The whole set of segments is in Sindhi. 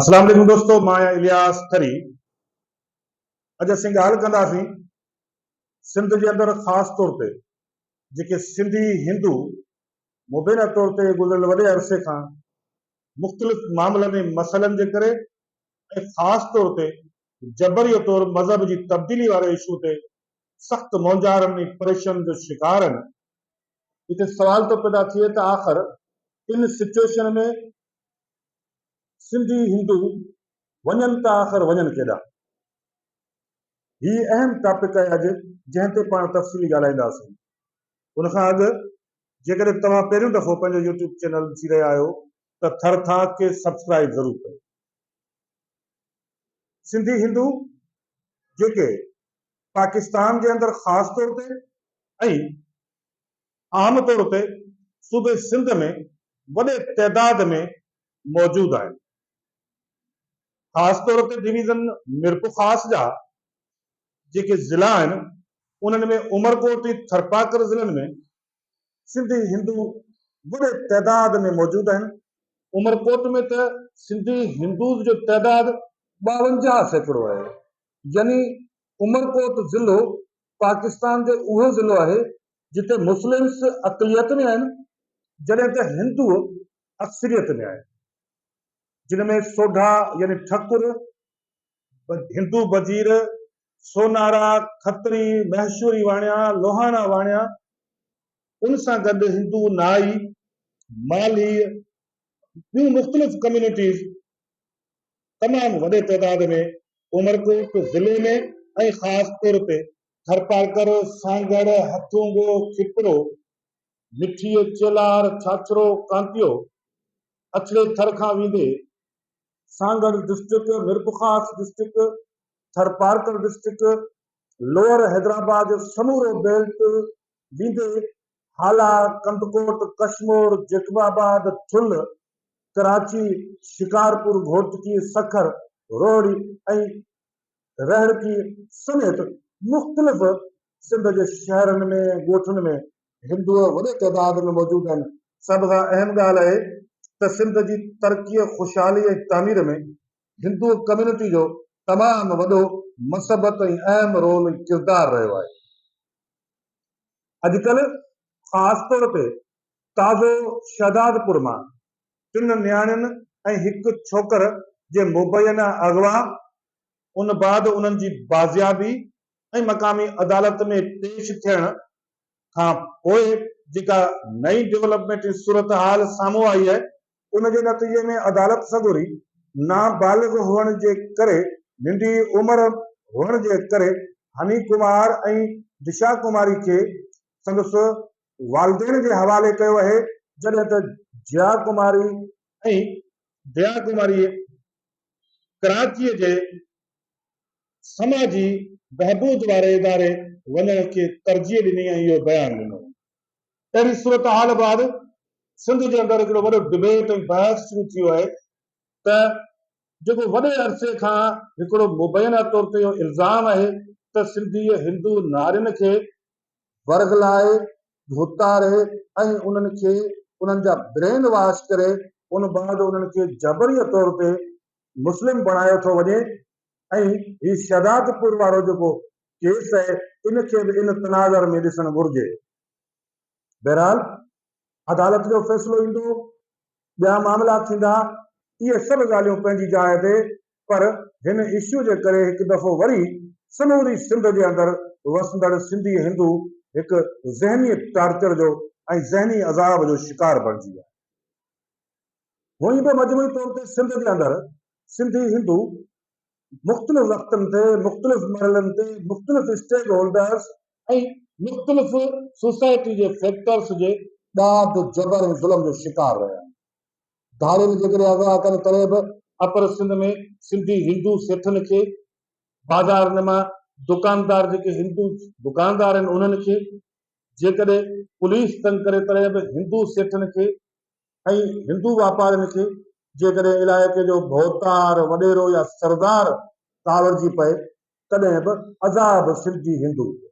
اسلام عليڪم دوستو مان آهيان الياس ٿري اڄ اسين ڳالهه ڪنداسين سنڌ جي اندر خاص طور تي جيڪي سنڌي هندو مبينا طور تي گذريل وڏي عرصي کان مختلف معاملن ۽ مسئلن جي ڪري ۽ خاص طور تي جبري طور مذهب جي تبديلي واري اشو تي سخت مونجهارن ۽ پريشن جو شڪار آهن هتي سوال ٿو پيدا ٿئي ته آخر ان سچوئيشن ۾ سنڌي هندو وڃن ته آخر وڃن ڪيڏانهن؟ هي اهم ٽاپڪ آهي اڄ جنهن تي پاڻ تفصيلي ڳالهائينداسين. ان کان اڳ جيڪڏهن توهان پهريون دفعو پنهنجو يوٽيوب چينل ڏسي رهيا آهيو ته ٿر ٿاڪ کي سبسڪرائيب ضرور ڪيو. سنڌي هندو جيڪي پاڪستان جي اندر خاص طور تي ۽ عام طور تي صوبي سنڌ ۾ وڏي تعداد ۾ موجود آهن. خاص طور تي ڊويزن ميرپورخاص جا جيڪي ضلعا آهن انهن ۾ عمرڪوٽ ۽ ٿرپارڪر ضلعن ۾ سنڌي هندو وڏي تعداد ۾ موجود آهن. عمرڪوٽ ۾ ته سنڌي هندوز جو تعداد ٻاونجاهه سيڪڙو آهي يعني عمرڪوٽ ضلعو پاڪستان جو اهو ضلعو آهي جتي مسلمس اقليت ۾ آهن جڏهن ته هندو اڪثريت ۾ آهن جن ۾ سوڍا يعني ٺڪر، هندو بجير، سونارا، کتري، مهشوري واڻيا، لوهاڻا واڻيا ان سان گڏ هندو نائي، مالهي ٻيون مختلف ڪميونٽيز تمام وڏي تعداد ۾ عمرڪوٽ ضلعي ۾ ۽ خاص طور تي ٿرپارڪر، سانگهڙ، هٿونگو، کپرو، مٺيء، چيلهار، ڇاڇرو، ڪانتيو، اڇڙي ٿر کان ويندي، Sanghar district, Mirpurkhas district, Tharparkar district, lower Hyderabad جو سمورو بيلٽ ويندي هالا، ڪنڌڪوٽ، ڪشمور، جيڪب آباد، ٿل، ڪراچي، شڪارپور، گهوٽڪي، سکر، روهڙي ۽ رهڙڪي سميت مختلف سنڌ جي شهرن ۾ ڳوٺن ۾ هندو وڏي تعداد ۾ موجود آهن. سڀ کان اهم ڳالهه اهي ته سنڌ جي ترقي، خوشحالي ۽ تعمير ۾ هندو ڪميونٽي جو تمام وڏو مثبت ۽ اهم رول ۽ ڪردار رهيو آهي. اڄڪلهه خاص طور تي تازو شهدادپور مان ٽن نياڻين ۽ هڪ ڇوڪر جي مبينا اغوا، ان بعد انهن جي بازيابي ۽ مقامي عدالت ۾ پيش ٿيڻ کان پوء جيڪا نئين ڊولپمينٽي صورتحال سامهون آئي آهي، ان جي نتيجي ۾ عدالت سڳوري نابالغ هئڻ جي ڪري ننڍي عمر هئڻ جي ڪري هني ڪمار ۽ دشا ڪماري کي سندس والدين جي حوالي ڪيو اهي جڏهن ته جيا ڪماري ۽ ديا ڪماريء ڪراچيء جي سماجي بهبود واري اداري وڃڻ کي ترجيح ڏني ۽ اهو بيان ڏنو. اهڙي صورتحال بعد سنڌ جي اندر هڪڙو وڏو ڊبيٽ ۽ بحث شروع ٿيو اهي ته جيڪو وڏي عرصي کان هڪڙو مبينا طور تي اهو الزام اهي ته سنڌيء هندو نارين کي ورغلائي، ڌوتاري ۽ انهن کي انهن جا برين واش ڪري ان بعد انهن کي جبريه طور تي مسلم بڻايو ٿو وڃي ۽ هي شهدادپور وارو جيڪو ڪيس آهي ان کي به ان تناظر ۾ ڏسڻ گهرجي. بهرحال عدالت جو فيصلو ايندو، ٻيا معاملا ٿيندا، اهي سڀ ڳالهيون پنهنجي جاء تي پر هن اشو جي ڪري هڪ دفعو وري سموري سنڌ جي اندر وسندڙ سنڌي هندو هڪ ذهني ٽارچر جو ۽ ذهني عذاب جو شڪار بڻجي ويا آهن. هونئن به مجموعي طور تي سنڌ جي اندر سنڌي هندو مختلف وقتن تي مختلف مرحلن تي مختلف اسٽيڪ هولڊرز ۽ مختلف سوسائٽي جي فيڪٽرز جي ڏاڍ، جبر ۽ ظلم جو شڪار رهيا آهن. ڌارين جيڪڏهن اغوا ڪن تڏهن به اپر سنڌ ۾ سنڌي هندو سيٺن کي، بازارن مان دڪاندار جيڪي هندو دڪاندار آهن انهن کي، جيڪڏهن پوليس تنگ ڪري تڏهن به هندو سيٺن کي، ۽ هندو واپارين کي جيڪڏهن علائقي جو ڀوتار، وڏيرو يا سردار ڪاوڙجي پئي تڏهن به عذاب سنڌي هندو هجي.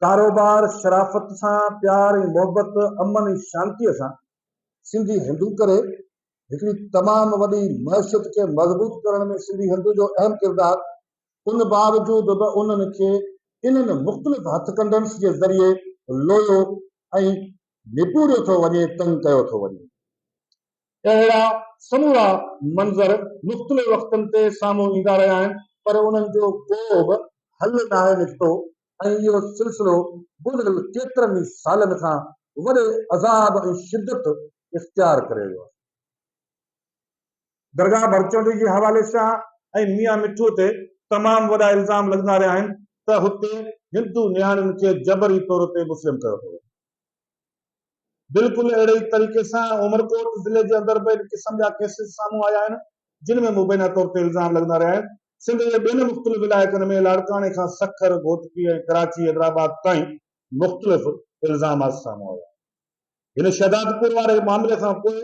ڪاروبار شرافت سان، پيار ۽ محبت، امن ۽ شانتيء سان سنڌي هندو ڪري. هڪڙي تمام وڏي معشيت کي مضبوط ڪرڻ ۾ سنڌي هندو جو اهم ڪردار. ان باوجود به انهن کي انهن مختلف هٿڪنڊنس جي ذريعي لويو ۽ نپوريو ٿو وڃي، تنگ ڪيو ٿو وڃي. اهڙا سمورا منظر مختلف وقتن تي سامهون ايندا رهيا آهن، پر انهن جو ڪو به حل ناهي نڪتو ۽ اهو سلسلو گذريل ڪيترن ئي سالن کان وڏي عذاب ۽ شدت اختيار ڪري ويو آهي. درگاهه ڀرچنڊي جي حوالي سان ۽ ميان مٺو تي تمام وڏا الزام لڳندا رهيا آهن ته هتي هندو نياڻين کي جبري طور تي مسلم ڪيو پيو وڃي. بلڪل اهڙي ئي طريقي سان عمرڪوٽ ضلعي جي اندر به ان قسم جا ڪيسز سامهون آيا آهن، جن ۾ مبينا طور تي الزام لڳندا رهيا آهن. سنڌ جي ٻين مختلف علائقن ۾ لاڙڪاڻي کان سکر، گهوٽڪي ۽ ڪراچي حيدرآباد تائين مختلف الزامات سامهون آيا آهن. هن شهدادپور واري معاملي کان پوء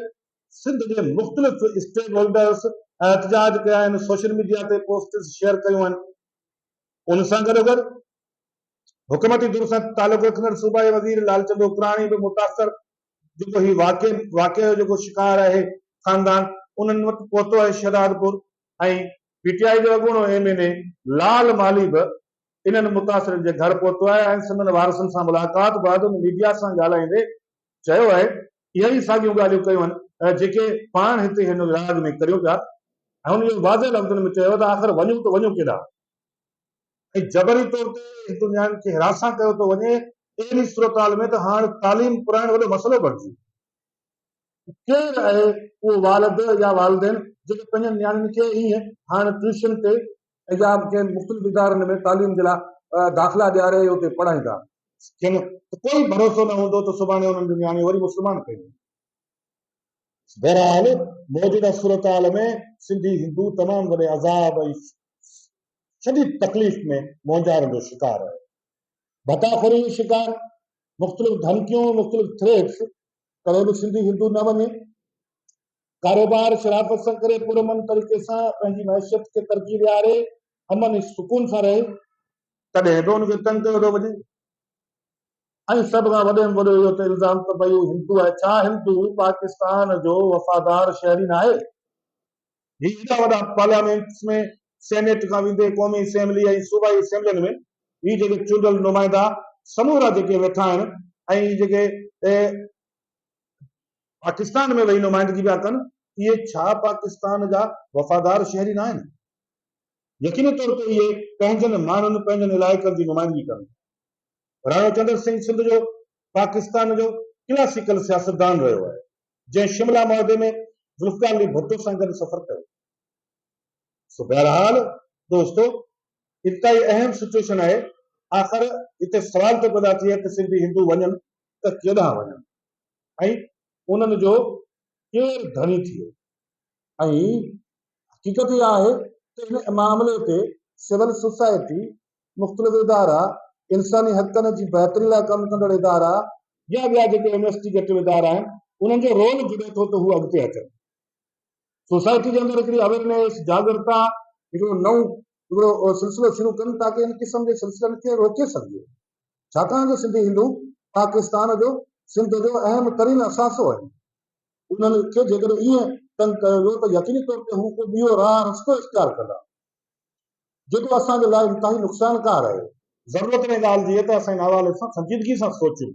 سنڌ جي مختلف اسٽيڪ هولڊرز احتجاج ڪيا آهن، سوشل ميڊيا تي پوسٽس شيئر ڪيون آهن، ان سان گڏوگڏ حڪومتي ڌر سان تعلق رکندڙ صوبائي وزير لال چند اوڪراڻي به متاثر جيڪو هي واقعي واقعي جو جيڪو شڪار آهي خاندان انهن وٽ پهتو آهي شهدادپور ۽ پي ٽي آء جو اڳوڻو M N A Lal Malhi به انهن متاثرن جي گهر پهتو آهي ۽ سندن وارثن سان ملاقات بعد ميڊيا سان ڳالهائيندي چيو آهي، اهي ئي ساڳيون ڳالهيون ڪيون آهن جيڪي پاڻ هتي هن وراڳ ۾ ڪريون پيا ۽ هن اهو واضح لفظن ۾ چيو ته آخر وڃون ته وڃون ڪيڏانهن؟ ۽ جبري طور تي هندو نياڻين کي هراسان ڪيو ٿو وڃي، اهڙي صورتحال ۾ ته هاڻ تعليم پرائڻ وڏو مسئلو بڻجي ويو. ڪير آهي اهو والد يا والدين جيڪي پنهنجن نياڻين کي ائين هاڻ ٽيوشن تي ايام کين مختلف ادارن ۾ تعليم جي لاء داخلا ڏياري ۽ اتي پڙهائيندا. کين ته ڪوئي ڀروسو نه هوندو ته سڀاڻي انهن جون نياڻيون وري مسلمان ڪيون وينديون. بهرحال موجوده صورتحال ۾ سنڌي هندو تمام وڏي عذاب ۽ شديد تڪليف ۾ مونجهارن جو شڪار رهيو. ڀتا خوري جو شڪار، مختلف ڌمڪيون ۽ مختلف ٿريٽس ڪري به سنڌي هندو نه وڃي. ڪاروبار شرافت سان ڪري پرامن طريقي سان پنهنجي معيشت کي ترقي ڏياري امن ۽ سڪون سان رهي، تڏهن به ان کي تنگ ڪيو ٿو وڃي ۽ سڀ کان وڏي ۾ وڏو اهو ته الزام ته ڀئي هو هندو آهي، ڇا هندو پاڪستان جو وفادار شهري ناهي؟ هي ايڏا وڏا پارليامينٽس ۾ سينيٽ کان ويندي قومي اسيمبلي ۽ صوبائي اسيمبلين ۾ هي جيڪي چونڊيل نمائندا سمورا جيڪي ويٺا آهن ۽ هي جيڪي پاڪستان ۾ ويهي نمائندگي پيا ڪن، اهي ڇا پاڪستان جا وفادار شهري ناهن؟ يقيني طور تي اهي پنهنجن ماڻهن، پنهنجن علائقن جي نمائندگي ڪن ٿا. راڻو چندر سنگهه سنڌ جو پاڪستان جو ڪلاسيڪل سياستدان رهيو آهي، جنهن شملا معاهدي ۾ ذوالفقار علي ڀٽو سان گڏ سفر ڪيو. سو بهرحال دوستو انتهائي اهم سچوئيشن آهي، آخر هتي سوال ٿو پيدا ٿئي ته سنڌي هندو وڃن ته ڪيڏانهن وڃن؟ ۽ انهن جو ڪير ڌڻي ٿئي؟ ۽ حقيقت اها آهي ته هن معاملي تي سول سوسائٽي، مختلف ادارا، انساني حقن جي بهتري لاء ڪم ڪندڙ ادارا يا ٻيا جيڪي انويسٽيگيٽو ادارا آهن، انهن جو رول جڙي ٿو ته هو اڳتي اچن. سوسائٽي جي اندر هڪڙي اويرنيس، جاڳرتا، هڪڙو نئون هڪڙو سلسلو شروع ڪن تاڪه ان قسم جي سلسلن کي روڪي سگهجي. ڇاڪاڻ جو سنڌي هندو پاڪستان جو سنڌ جو اهم ترين اثاثو آهن. انهن کي جيڪڏهن ائين تنگ ڪيو ويو ته يقيني طور تي هو ڪو ٻيو راهه رستو اختيار ڪندا، جيڪو اسان جي لاء انتهائي نقصانڪار آهي. ضرورت ان ڳالهه جي آهي ته اسان ان حوالي سان سنجيدگي سان سوچون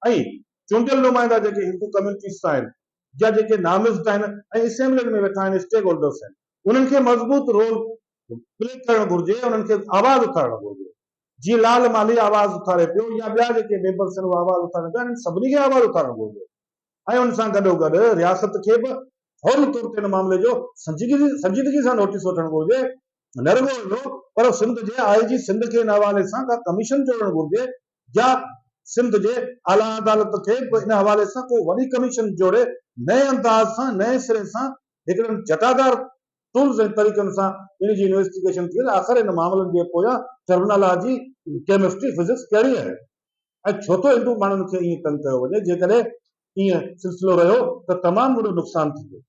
۽ چونڊيل نمائندا جيڪي هندو ڪميونٽيز سان آهن يا جيڪي نامزد آهن ۽ اسيمبلين ۾ ويٺا آهن، اسٽيڪ هولڊرز آهن، انهن کي مضبوط رول پلي ڪرڻ گهرجي، انهن کي آواز اٿارڻ گهرجي. جيئن لال مالهي آواز اٿاري پيو يا ٻيا جيڪي بي بس آهن اهي آواز اٿارين پيا انهن سڀني کي آواز اٿارڻ گهرجي ۽ ان سان گڏوگڏ رياست کي به فوري طور تي ان معاملي جو سنجيدگي سان نوٽيس وٺڻ گهرجي نه رڳو اهو پر سنڌ جي آء جي سنڌ کي ان حوالي سان ڪا ڪميشن جوڙڻ گهرجي يا سنڌ جي اعليٰ عدالت کي به ان حوالي سان ڪو وڏي ڪميشن جوڙي نئين انداز سان نئين سري سان هڪڙن جٽادار ٽولز ۽ طريقن سان ان جي انويسٽيگيشن ٿئي ته آخر ان معاملن جي پويان ٽرمنالاجي، ڪيمسٽري، فزڪس ڪهڙي آهي ۽ ڇو ٿو هندو ماڻهن کي ائين تنگ ڪيو وڃي، جيڪڏهن ائين سلسلو رهيو ته تمام وڏو نقصان ٿيندو.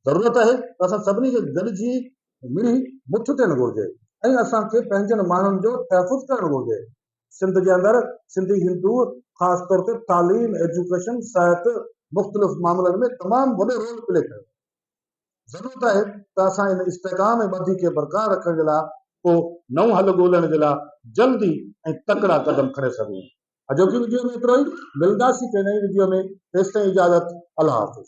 ضرورت آهي ته اسان سڀني کي گڏجي ملي مٺ ٿيڻ گهرجي ۽ اسان کي پنهنجن ماڻهن جو تحفظ ڪرڻ گهرجي. سنڌ جي اندر سنڌي هندو خاص طور تي تعليم، ايجوڪيشن، صحت مختلف معاملن ۾ تمام وڏو رول پلي ڪيو آهي. ضرورت آهي ته اسان ان استحڪام ۽ ٻڌي کي برقرار رکڻ جي لاء ڪو نئون حل ڳولڻ جي لاء جلدي ۽ تڪڙا قدم کڻي سگهون. اڄوڪي وڊيو ۾ ايترو ئي، ملنداسين ڪنهن نئين وڊيو ۾ تيستائين اجازت الله حافظ.